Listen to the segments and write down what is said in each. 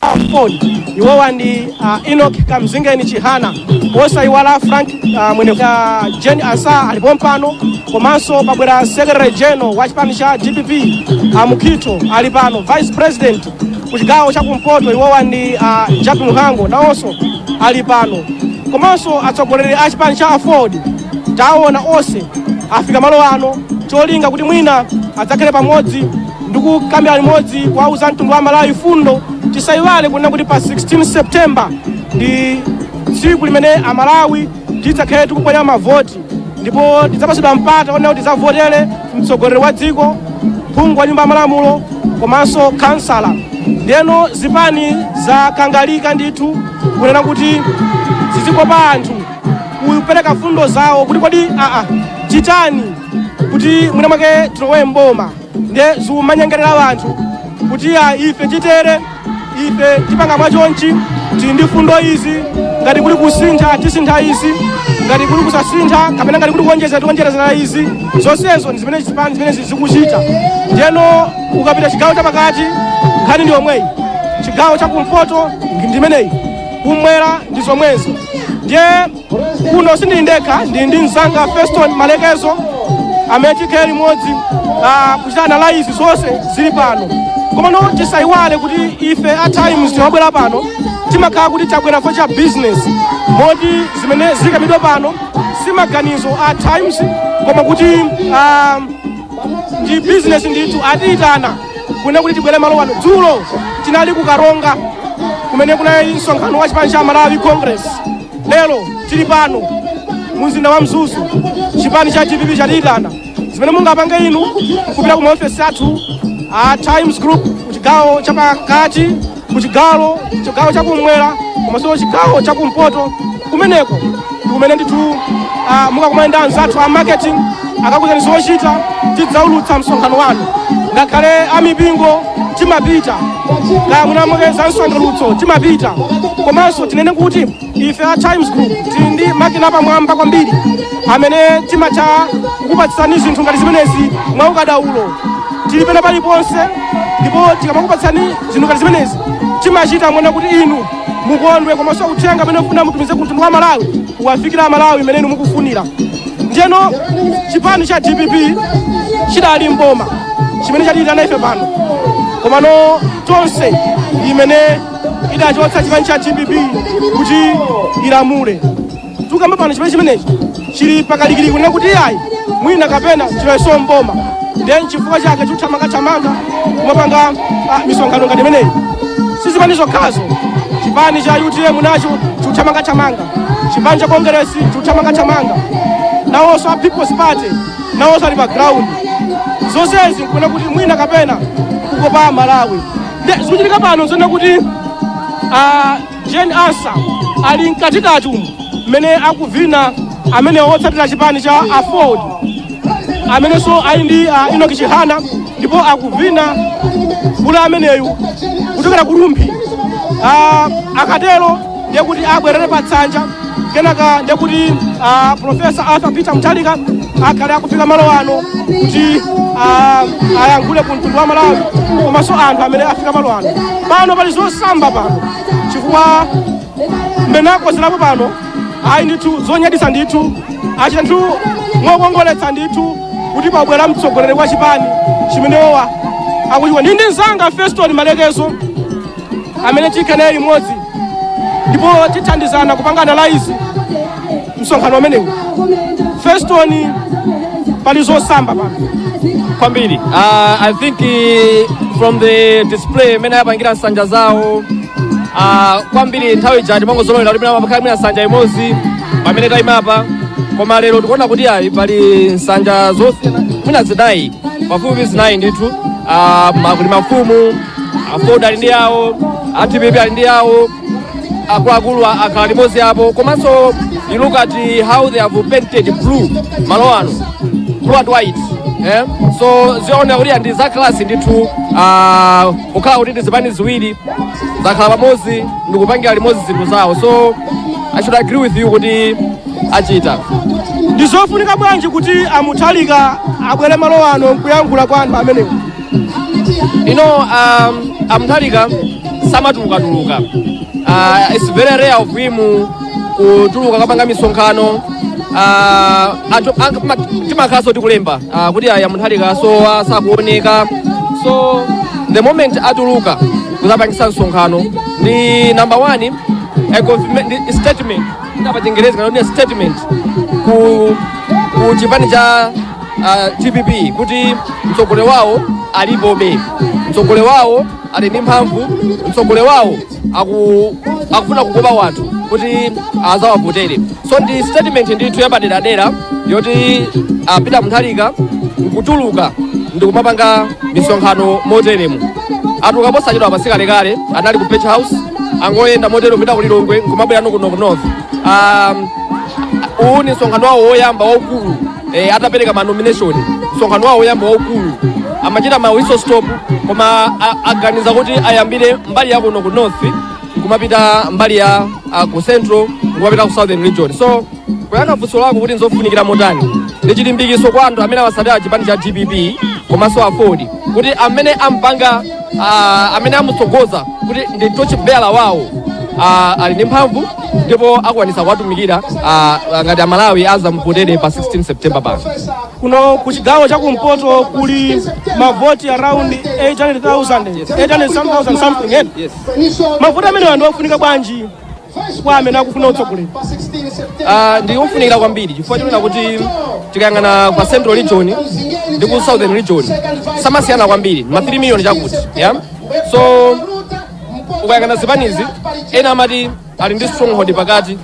AFORD iwowa ndi uh, Enoch Kamzingeni Chihana osayiwala Frank uh, Mwenifumbo uh, Jane Ansah alipompano komanso pabwera Secretary General wa chipani cha DPP a Mukhito ali pano Vice President ku chigawo cha kumpoto iwowa ndi uh, Jappie Mhango nawonso ali pano komanso atsogoleri a chipani cha AFORD taona onse afika malo ano cholinga kuti mwina adzakhale pamodzi ndi kukambira limodzi kuwauza mtundu wa Amalawi fundo tisayiwale kunena kuti pa 16 september ndi tsiku limene amalawi tidzakhale tikuponya mavoti ndipo tidzapatsidwa mpata onena kuti tidzavotere mtsogoleri wa dziko phungu wa nyumba ya malamulo komanso kansala ndeno zipani zakangalika ndithu kunena kuti zizikopa anthu kupereka fundo zawo kuti kodi achitani kuti mwina mwake tilowe mboma nde zikumanyengerera anthu kuti aa ife chitere ife tipanga mwachonchi tili ndi fundo izi ngati kuli kusintha tisintha izi ngati kuli kusasintha kapena ngati kuli kuonjezera tionjezera izi zonsezo ndi zimene zipani zimene zikuchita ndeno ukapita chigawo chapakati nkhani ndi yomweyi chigawo chakumpoto ndi imeneyi kumwera ndi zomwezo ndiye kuno sindili ndekha ndili ndi mzanga feston malekezo amene tikhale limodzi ah, kuchita analyze zonse zili pano komano tisayiwale kuti ife a times timabwera pano timakhala kuti tabwera for cha business moti zimene zikamidwa pano si maganizo a times koma kuti ah, ndi business ndithu atiyitana kunena kuti tibwere malo ano dzulo tinali ku karonga kumene kunali msonkhano wa chipani cha malawi congress lero tili pano mumzinda wa mzuzu chipani cha dpp chatiyitana zimene mungapange inu kupita ku maofesi athu a times group kuchigawo chapakati ku chigawo chigawo chakumwera komanso chigawo chakumpoto kumeneko ndikumene ndithu ah, mukakumana ndi anzathu a marketing akakuzani zochita tidzaulutsa msonkhano wanu ngakhale amipingo timapita kaya mwina mwake za msangulutso timapita komanso tinene kuti ife a times group tili ndi makina apamwamba kwambiri amene timatha kukupatsani zinthu ngati zimenezi mwa ukadaulo tili pena paliponse ndipo tikamakupatsani zinthu ngati zimenezi timachita mwina kuti inu mukondwe komanso uthenga amene mufuna mutumize ku mtundu wa amalawi uwafikira amalawi mmene inu mukufunira ndiyeno chipani cha dpp chidali mboma chimene chatiitana ife pano komano tonse mmene idachotsa chipani cha dpp kuti ilamule tukamba pano chipani chimenechi chili pakalikiliki kunena kuti ayi mwina kapena chiloweso m'boma ndiye nchifukwa chake chikuthamangathamanga kumapanga ah, misonkhano ngati imeneyi si zipani zokhazo chipani cha utm nacho chikuthamangathamanga chipani cha kongeresi chikuthamangathamanga nawonso a people's party nawonso ali pa ground zonsezi nkuna kuti mwina kapena kukopa malawi Nde zikuchitika pano zona kuti ah, Jane Ansa ali mkatikati umu mmene akuvina amene otsatira chipani cha Aford amenenso ali ndi ah, Enoch Chihana ndipo akuvina mkulu ameneyu kuchokera ku Rumphi Ah, akatero ndiye kuti abwerere pa tsanja kenaka ndiye kuti ah, profesa arthur peter mutharika akhale akufika malo ano kuti ah, ayankhule ku mtundu wa malawi komanso anthu amene afika malo ano pano pali zosamba pano chifukwa mmene akozerapo pano ayi ndithu zonyaditsa ndithu achita ndithu mokongoletsa ndithu kuti pabwera mtsogoleri wa chipani chimenewowa akuchiwa ndi ndi mzanga feston malekezo amene tikhala naye limodzi ndipo tithandizana kupanga analyze msonkhano umenewu feston pali zosamba pano kwambiri uh, i think uh, from the display imene ayapangira nsanja zawo uh, kwambiri nthawi ija timangozolowera kuti pakhala mwina nsanja imodzi pamene tayimapa koma lero tikuona kuti ayi pali nsanja zosiyana mwina zinayi pafupi zinayi ndithu uh, ma- kuli mafumu aford ali ndi yawo a dpp ali ndi yawo akuluakulu a- akhala limodzi apo komanso you look at eh, how they have painted blue malo ano blue and white eh? so zioneka kuti ndi za class ndithu ah, kukhala kuti ndi zipani ziwiri zakhala pamodzi ndikupangira limodzi zinthu zawo so i should agree with you kuti achita ndizofunika bwanji kuti a mutharika abwere malo ano nkuyankhula kwa anthu amenewo you know um, a mutharika samatulukatuluka uh, it's very rare of him kutuluka kapanga misonkhano uh, anthu ang- ma- timakhalanso tikulemba uh, kuti aa a mutharika asowa sakuoneka so the moment atuluka kuzapangisa msonkhano ndi number one a statement ndapa chingerezi kana kuti a statement ku ku chipani cha a dpp kuti mtsogoleri wawo alipobe mtsogoleri wawo ali ndi mphamvu mtsogoleri wawo aku, akufuna kukopa wanthu kuti azawavotere so ndi statement ndithu yapaderadera yoti a Peter Mutharika nkutuluka ndikumapanga misonkhano moteremu atuluka posachedwa pasikalekale anali ku page house angoyenda motero kupita ku lilongwe nkumabwerano kuno ku north um, uwu ni msonkhano wawo woyamba waukulu eh, atapereka ma nomination msonkhano wawo woyamba waukulu amachita ma whistle stop koma a- aganiza kuti ayambire mbali ya kuno ku north kumapita mbali ya ah, ku central kumapita ku southern region so kuyankha funso lako kuti nzofunikira motani ndi chilimbikitso kwa anthu amene amatsatira chipani cha dpp komanso aford kuti amene ampanga ah, amene amutsogoza kuti ndi tochibela wawo ah, ali ndi mphamvu ndipo akwanitsa kuwatumikira ah, ngati amalawi azamuvotere pa 16 september pano kuno ku chigawo cha kumpoto kuli mavoti around 800,000 800,000 something eh? mavoti amenewa ndi ofunika bwanji kwa amene akufuna utsogoleri Ah, ndi ofunikira kwambiri chifukwa chonena kuti tikayang'ana ku central region ndi ku southern region samasiyana kwambiri ma 3 million chakuti yeah? so ukayang'ana zipanizi ena amati ali ndi stronghold pakati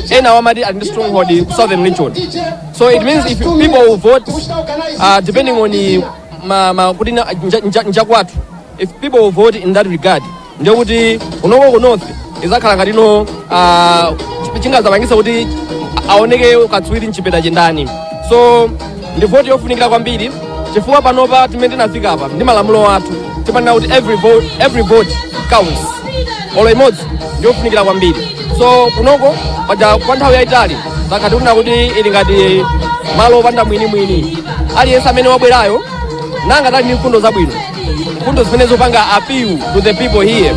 ena amati ali ndi stronghold ku southern region so it means if people will vote uh, depending on uh, ma, ma, kuti na- nja- nja- njakwathu if people will vote in that regard ndiye kuti kunoko ku north izakhala ngati no ah, chi- chingazapangitse kuti aoneke katswiri mchipeta ndi ndani so ndi voti yofunikira kwambiri chifukwa panopa mmene tinafika apa ndi malamulo athu timanena kuti every vote, every vote counts olo imodzi ndiyofunikira kwambiri so kunoko paja kwa nthawi yayitali zakhala kunena kuti ili ngati malo opanda mwinimwini aliyense amene wabwerayo ngati ali ndi mfundo zabwino mfundo zimene zipanga appeal to the people here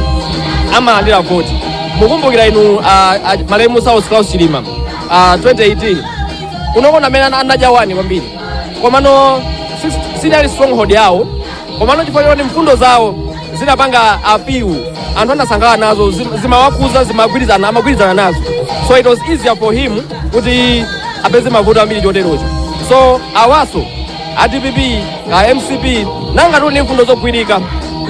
amalandira voti mukumbukira inu ah, ah, malemu Saulos Klaus Chilima ah, 2018 kunoko ndi amene ana- anadya wani kwambiri komano si- sinali stronghold yawo komano chifukwa choti mfundo zawo zinapanga appeal anthu anasangalala nazo zim- zimawakhudza zimagwirizana amagwirizana nazo so it was easier for him kuti apeze mavoti ambiri choterocho so awaso a dpp ka mcp ngati ali ndi mfundo zogwirika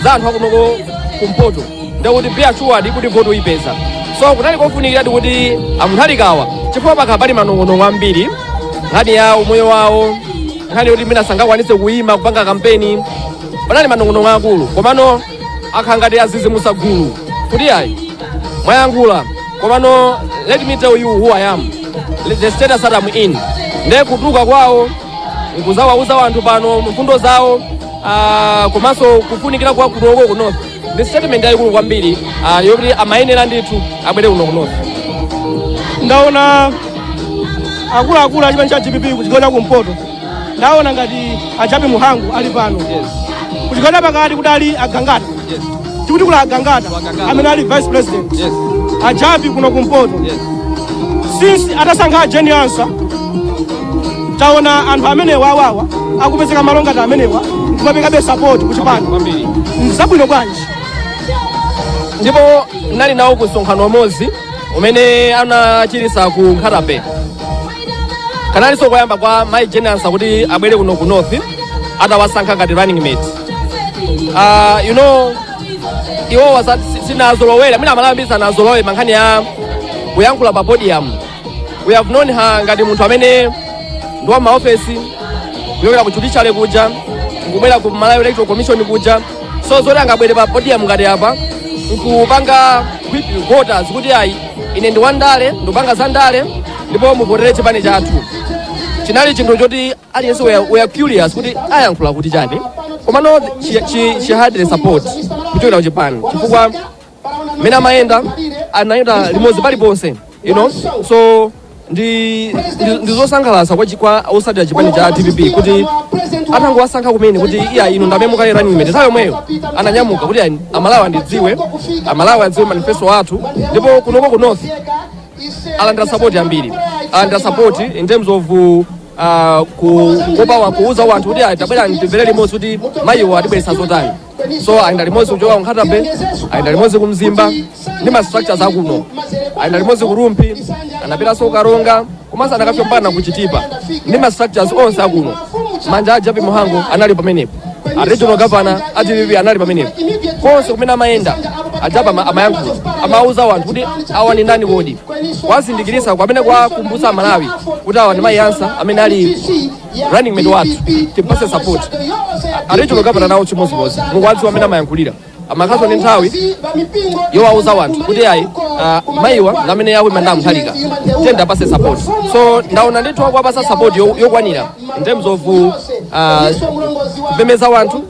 za anthu akunoko kumpoto ndiye kuti be assured kuti voti ayipeza so kunali kofunikiradi kuti a Mutharikawa chifukwa pakhala pali manong'onong'o ambiri nkhani ya umoyo wawo nkhani yoti mwina sangakwanitse kuyima kupanga kampeni panali manong'onong'o akulu komano akhala ngati azizimusa gulu kuti ayi mwayankhula komano let me tell you who i am the status that I'm in nde kutuluka kwawo nkuzawauza wanthu pano mfundo zawo ah, komanso kufunikira kwa kunoko ku north ndi statement yayikulu kwambiri ah, yoti amayenera ndithu abwere kuno ku north ndaona akuluakulu achipani cha dpp kuchigawo cha kumpoto ndaona ngati a jappie mhango ali pano kuchigawo pakati kuti ali agangata tikuti kuli agangata amene ali vice president a jappie kuno kumpoto since atasankha a jane ansah taona anthu amenewa awawa akupezeka malo ngati amenewa kumaperekabe sapoti kuchipani kwambiri nzabwino bwanji ndipo nali nawo ku msonkhano umodzi umene anachititsa ku nkhata bay kanalinso koyamba kwa mai jane ansah kuti abwere kuno ku north atawasankha ngati running mate uh, you know iwowa sa- si- sinazolowera mwina amalawi ambiri sanazolowere nkhani ya kuyankhula pa podium we have known her ngati munthu amene ndi wa maofesi kuchokera ku judiciary kuja nkubwera ku malawi electoral commission kuja so zoti angabwere pa podium ngati apa nkupanga woo voters kuti ayi ine ndi wandale ndupanga za ndale ndipo muvotere chipani chathu chinali chinthu choti aliyense we are- we are curious kuti ayankhula kuti chani komano she, she, she had the support kuchokera kuchipani chifukwa mmene amayenda anayenda limodzi paliponse you know so ndi ndi- ndi zosangalatsa kwa chi- kwa otsatira chipani cha dpp kuti atangowasankha kumene kuti eya inu ndamene mukhale running mate nthawi yomweyo ananyamuka kuti ayi, amalawi andidziwe amalawi adziwe manifesto athu ndipo kunoko ku north alandira sapoti ambiri alandira sapoti in terms of uh, kukopa wa- kuuza wanthu kuti ayi tabwera timvere limodzi kuti mayiwo atibweretsa zotani so ayenda limodzi kuchoka ku nkhata bay ayenda limodzi ku mzimba ndi ma structures akuno ayenda limodzi ku rumphi anapitanso ku karonga komanso anakafika mpaka na ku chitipa ndi ma structures onse akuno manja a jappie mhango anali pamenepo a regional governor a dpp anali pamenepo konse kumene amayenda a jappie ama- amayankhula amauza anthu kuti awa ndi ndani kodi kuwazindikirisa kwamene kuwakumbutsa amalawi kuti awa ndi mai ansah amene ali running mate wathu timpase support a regional governor nawo chimodzimodzi mukuwadziwa mmene amayankhulira amakhalanso ndi nthawi yowauza wanthu kuti ayi ah, mayiwa ndamene akuyima ndi a mutharika tiyeni tiwapase support so ndaona ndithu akuwapasa support yo- yokwanira in terms of uh, kumemeza wanthu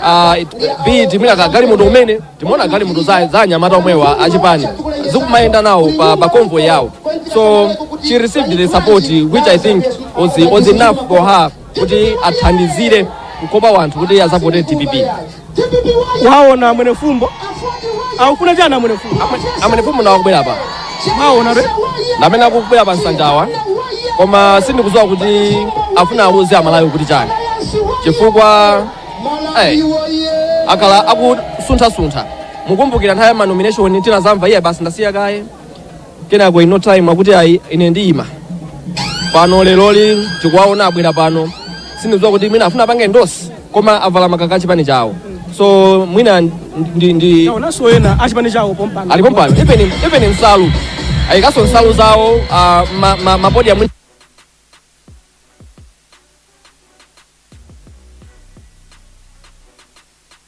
ah, it- be it mwina kagalimoto umene timaona galimoto za za anyamata omwewa achipani zikumayenda nawo pa, pa convoy yawo so she received the support which i think was, was enough for her kuti athandizire kukopa wanthu kuti azavotere dpp waona amwene fumbo akufuna chani amwene fumbo amwene fumbo nawo akubwera apa mwaona re ndamene akubwera pa nsanjawa koma sindikuziwa kuti afuna awauze amalawi kuti chani chifukwa eh, akhala akusunthasuntha mukumbukira nthawi ya manomination tinazamva iye basi ndasiya kaye kenako in no time akuti ayi ine ndiyima pano leroli tikuwaona abwera pano sindikudziwa kuti mwina afuna apange endorse koma avala makaka achipani chawo so mwina ndi, ndi taonanso ena achipani chawo pompano alipo pano even, even nsalu ayikaso nsalu zawo uh, ma, ma, mabodi ya mwina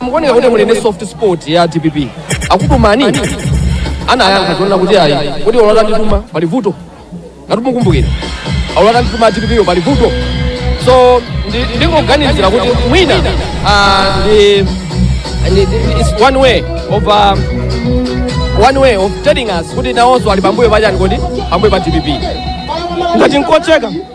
mukuoneka kuti muli ndi soft spot ya dpp akutumani nini anayankha zonena kuti ayi kuti olota ndituma pali vuto ngati mukumbukira olota ndituma dpp yo pali vuto so ndi- ndingoganizira kuti mwina ah, ndi ndi- ndi- it's one way of um, one way of telling us kuti nawonso ali pambuyo pachani kodi pambuyo pa dpp ngati nkotheka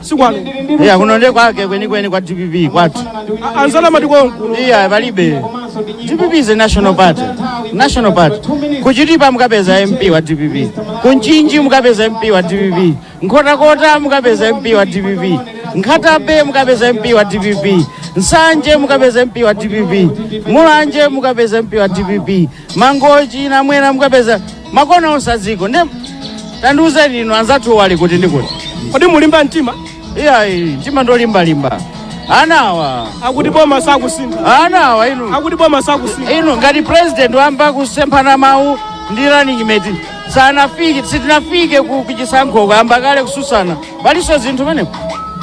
si kwanu iya kuno nde kwake kwenikweni kwa dpp kwathu A- anzana mati konkuno iya palibe dpp is a national party national party kuchitipa mukapeza mp wa dpp kumchinji mukapeza mp wa dpp nkhotakota mukapeza mp wa dpp nkhata bay mukapeza mp wa dpp nsanje mukapeza mp wa dpp mulanje mukapeza mp wa dpp mangochi namwena mukapeza makona onse a dziko nde tandiuzeni inu anzathu ali kuti ndi kuti kodi mulimba mtima iyayi mtima ndolimbalimba anawa akuti boma sakusintha anawa inu akuti boma sakusintha inu ngati president ayamba kusemphana mawu ndi running mate sanafike sitinafike ku kuchisankho ayamba kale kususana paliso zinthu meneko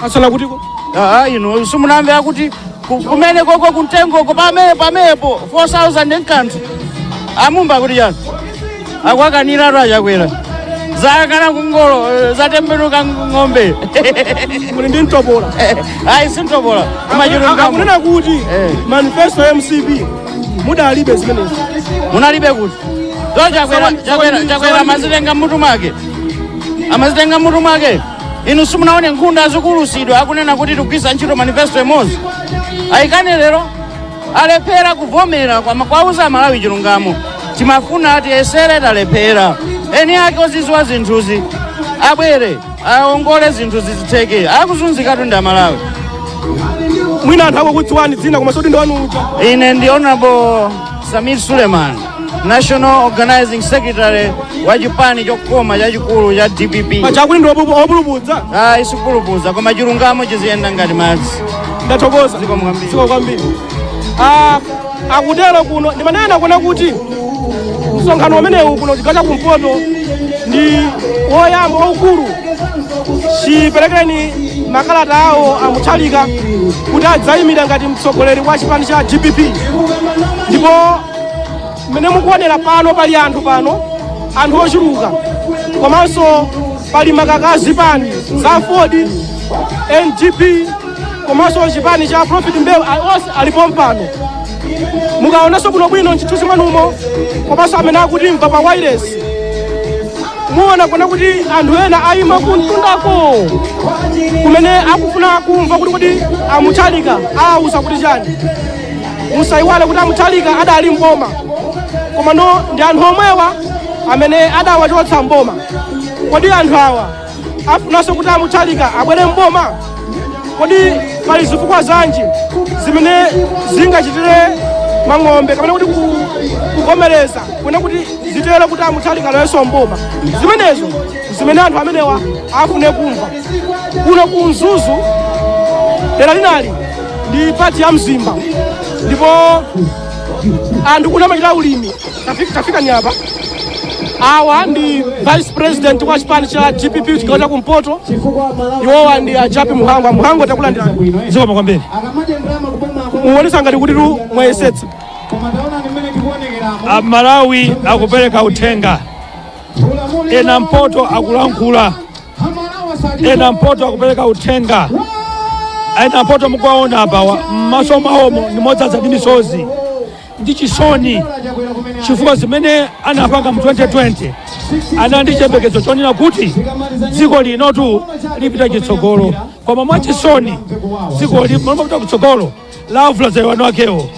asala kutiko aa inu simunamve akuti ku- kumene koko kuntengoko pomwepo pomwepo 4000 nkanthu amumba kuti yani akuwakaniratu achakwera zakana kungolo eh, zatembenuka ng'ombe muli ndi mtopola ayi sintopola koma chilungamo akunena kuti Eh. manifesto ya mcp munalibe zimenezi munalibe kuti so chakwera chakwera chakwera amazitenga mmutu mwake amazitenga mutu mwake inu simunaone nkhunda zikuulutsidwa akunena kuti tikugwiritsa ntchito manifesto imodzi ayikana lero alephera kuvomera kumawauza amalawi chilungamo timafuna tiyesere talephera eni ake oziziwa zinthuzi abwere aongole zinthu zizitheke akuzunzikatu ndi amalawi mwina anthu akukudziwani dzina koma osati ndinu uja ine ndi honorable samir suleiman national organizing secretary wa chipani chokoma chachikulu cha dpp pachakuti ndi opupu- opulupudza ayi sikupulupudza koma chilungamo chiziyenda ngati madzi ndathokoza zikomo kwambiri. zikomo kwambiri Ah, akutero kuno ndimanena nakuona kuti msonkhano umenewu kuno chigawo cha kumpoto ndi woyamba waukulu chiperekereni makalata awo amuthalika kuti adzayimira ngati mtsogoleri wa chipani cha dpp ndipo mmene mukuonera pano pali anthu pano anthu ochuluka komanso pali makaka a zipani za aford ngp komanso chipani cha prophet mbewe a- onse alipo pompano mukaonanso bwinobwino mchithunzi mwanumo komanso amene akutimva pa wailesi muona kuona kuti anthu ena ayima kumtundako kumene akufuna kumva kuti kuti amuthalika awauza kuti chani musayiwale kuti amuthalika adali mboma komano ndi anthu omwewa amene adawachotsa mboma kodi anthu awa afunanso kuti amuthalika abwere mboma kodi pali zifukwa zanji zimene zingachitire mang'ombe kapena kuti kukomereza kuona kuti zitero kuti amuthalika alowenso mboma zimenezo zimene anthu amenewa afune kumva kuno ku mzuzu dera linali ndi pati ya mzimba ndipo anthu kuno amachita ulimi tafika tafika ni apa awa ndi vice president wa chipani cha dpp chigawo cha kumpoto iwowa ndi a jappie mhango a mhango takulandira zikomo kwambiri muonesa ngati kutitu mwayesetsa amalawi akupereka uthenga a kumpoto akulankhula a kumpoto akupereka uthenga a kumpoto mukuwaona apawa m'maso mwawomo ndi modzadza ndi misozi ndi chisoni chifukwa zimene anapanga mu 2020 anali ndi chiyembekezo chonena kuti dziko linotu lipita chitsogolo koma mwachisoni dziko mmalo mopita kutsogolo lavula za iwani wakewo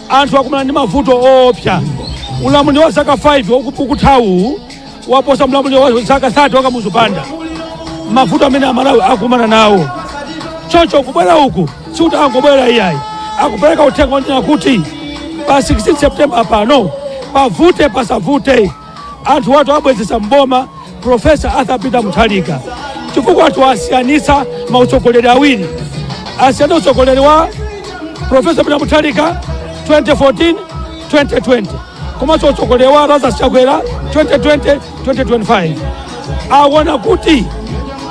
anthu akumana ndi mavuto oopsa ulamuliro wa zaka 5 woku- ukuthawu waposa ulamuliro wa zaka 30 wa kamuzu banda mavuto amene amalawi akumana nawo choncho kubwera uku sikuti angobwera iyayi akupereka uthenga wonena kuti pa 16 september pano pavute pasavute anthuwatu abwezesa mboma profesa arthur peter muthalika chifukwa anthu asiyanisa mautsogoleri awiri asiyanisa utsogoleri wa profesa peter muthalika 2014 2020 komanso utsogoleri wa lazarus chakwera 2020 2025 awona kuti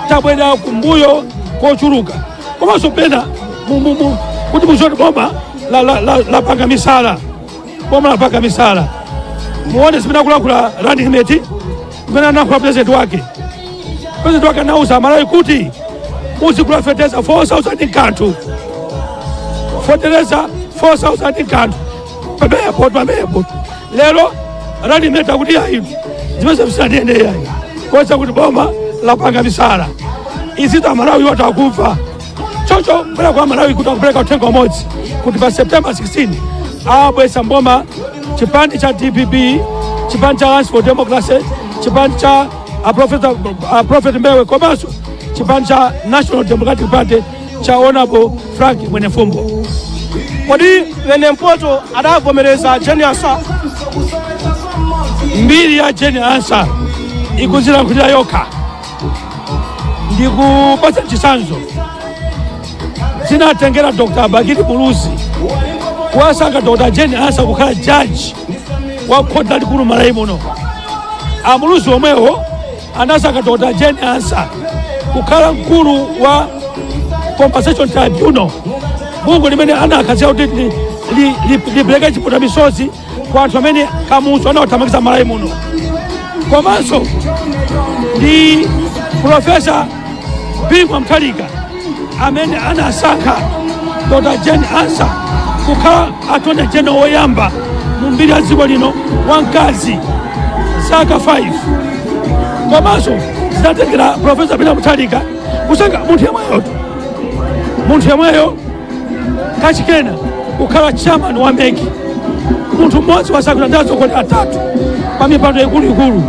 tabwerera kumbuyo kochuluka komanso pena mu- mu- mu- kuti muzione boma lapanga la, la, la lapanga misala boma lapaka misala muone zimene akulankhula running mate zimene analankhula president wake president wake anauza amalawi kuti muzigula fertilizer 4000 kanthu fertilizer 4000 kanthu pamepo pamepo lero running mate akuti ayi zimenezo musatenge yayi kusonyeza kuti boma lapanga misala izitu amalawi watu akumva choncho ndabwera kwa malawi kuti akupereke uthenga umodzi kuti pa september 16 abweza mboma chipani cha dpp chipani cha alliance for democracy chipani cha a prophet, a prophet mbewe komanso chipani cha national democratic party cha honorable frank mwenefumbo kodi wenempoto adagomerera jeni ansa mbiri ya jeni ansa ikuzilankhulira yokha ndikupatsa chitsanzo zinatengera dr bakili muluzi kuwasankha dr jane ansa kukhala jaji wa khoti lalikulu malawi muno amuluzi omwewo anasankha dr jane ansa kukhala mkulu wa compensation tribunal bungwe limene anakhazikitsa kuti li- li- li- lipereke chiputa misozi kwa anthu amene kamuzu anawathamangitsa malawi muno komanso ndi profesa bingu wa mutharika amene anasankha dr jane ansa kukhala attorney general woyamba mu mbiri ya dziko lino wamkazi zaka 5 komanso zinatengera profesa peter mutharika kusankha munthu yemweyotu munthu yemweyo kachikena kukhala chairman wa meki munthu mmodzi wasankhidwa ndi atsogoleri atatu kwa mipando ikuluikulu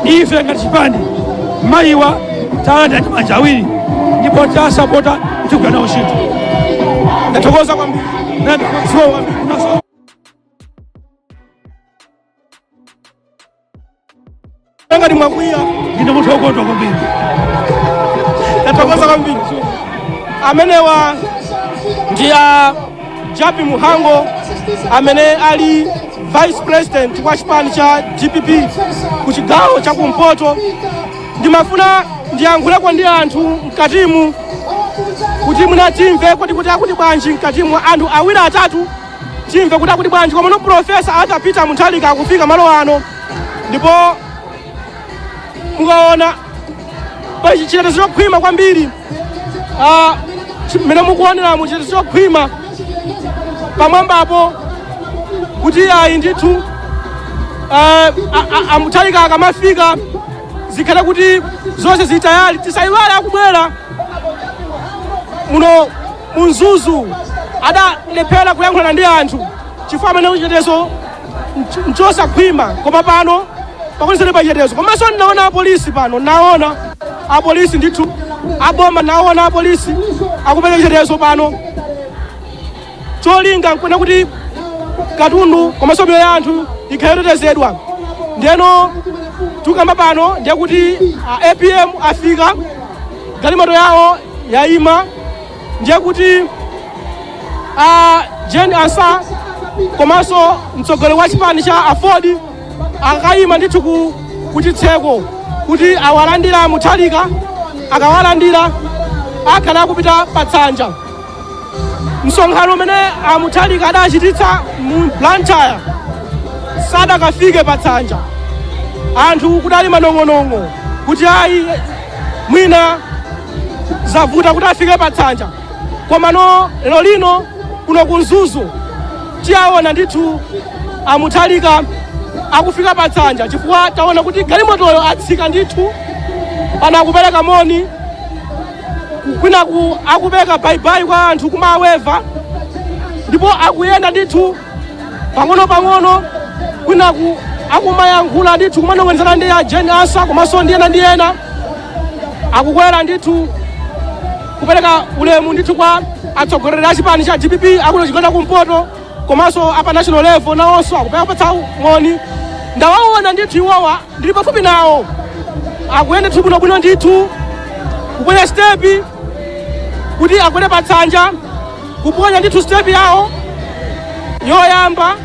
ife ngati chipani mayiwa tawalandira ndi manja awiri ndipo tawasapota tigwira nawo ntchito ndathokoza kwambiri ndathokoza kwambiri ngati mwakwiya ndine munthu wokondwa kwambiri tathokoza kwambiri amenewa ndi a japi muhango amene ali vice president wa chipani cha dpp ku chigawo cha kumpoto ndimafuna ndiyankhuleko ndi anthu mkatimu kuti mwina timve kuti kuti akuti bwanji mkatimu anthu awiri atatu timve kuti akuti bwanji komano profesa arthur peter mutharika akufika malo ano ndipo mukaona pa chitetezo chokhwima kwambiri ah, chi- mmene mukuoneramu chitetezo chokhwima pamwambapo kuti ayi ndithu ah, a- a- amutharika akamafika zikhale kuti zonse zili tayale tisayiwale akubwera muno mu mzuzu adalephera kuyankhulana ndi anthu chifukwa amene chitetezo nch- nchosakhwima koma pano pakunisani pachitetezo komanso ndinaona apolisi pano naona apolisi ndithu aboma naona apolisi akupereka chitetezo pano cholinga nkuona kuti katundu komanso miyoyo ya anthu ikhale yotetezedwa ndeno tukamba pano ndiye kuti a apm afika galimoto yawo yaima ndiye kuti a Jane Ansah komanso mtsogoleri wa chipani cha aford akayima ndithu ku- kuchitseko kuti awalandira muthalika akawalandira akhale akupita patsanja msonkhano umene amuthalika adachititsa mu blantyre sadakafike patsanja anthu kudali manong'onong'o kuti ayi mwina zavuta kuti afike patsanja komano lero lino kuno ku mzuzu tiyaona ndithu amuthalika akufika patsanja chifukwa taona kuti galimotoyo atsika ndithu pana akupereka moni kwinaku akupereka baibai kwa anthu kumaweva ndipo akuyenda ndithu pang'ono pang'ono kwinaku akumayankhula ndithu kumanong'onezana ndi a Jane Ansah komanso ndi ena ndi ena akukwera ndithu kupereka ulemu ndithu kwa atsogoleri a chipani cha dpp akuno chigawo cha kumpoto komanso apa national level nawonso akupatsa moni ndawaona ndithu iwowa ndili pafupi nawo akuyenda ndithu bwinobwino ndithu kuponya stepi kuti akwere pa tsanja kuponya ndithu sitepi yawo yoyamba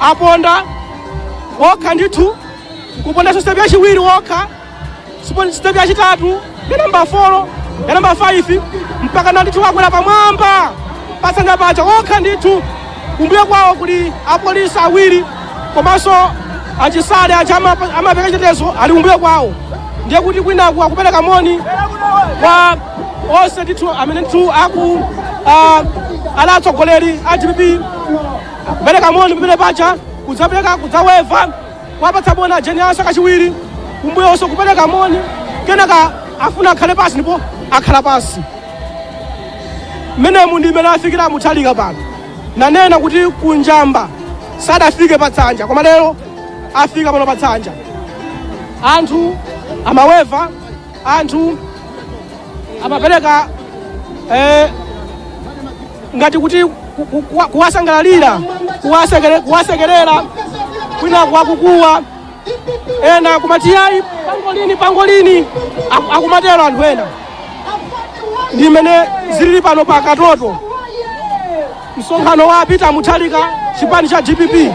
aponda wokha ndithu kupondanso sitepi yachiwiri wokha sipo- sitepi yachitatu ya namba 4 ya namba 5 mpaka na ndithu wakwera pamwamba patsanja paja wokha ndithu kumbuyo kwawo kuli apolisi awiri komanso achisale aja amapa- amapereka chitetezo ali kumbuyo kwawo ndiye kuti kwinaku akupereka moni kwa onse ndithu amene ndithu aku ah, ali atsogoleri a dpp kupereka moni pamene paja kudzapereka kudzaweva kuwapatsa moni a Jane Ansah kachiwiri kumbuyonso kupereka moni kenaka afuna akhale pansi ndipo akhala pansi mmenemu ndi mmene afikira muthalika pano nanena kuti kunjamba sadafike pa tsanja koma lero afika pano pa tsanja anthu amaweva anthu amapereka eh, ngati kuti ku- ku- kuwa- kuwasangalalira kuwasekere- kuwasekerera kwinaku akukuwa ena akumati yayi pangolini pangolini aku- akumatero anthu ena ndi mmene zilili pano pa katoto msonkhano wa peter Mutharika chipani cha dpp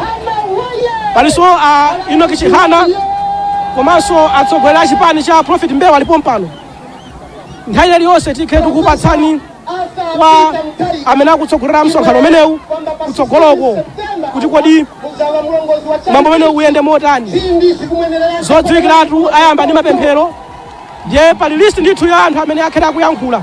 palinso a Enoch Chihana komanso atsogoleri a chipani cha Prophet Mbewe ali pompano nthawi iliyonse tikhala tikupatsani kwa amene akutsogolera msonkhano umenewu kutsogoloko kuti kodi mwambo umenewu uyende motani zodziwikiratu ayamba ndi mapemphero ndiye pali list ndithu ya anthu amene akhale akuyankhula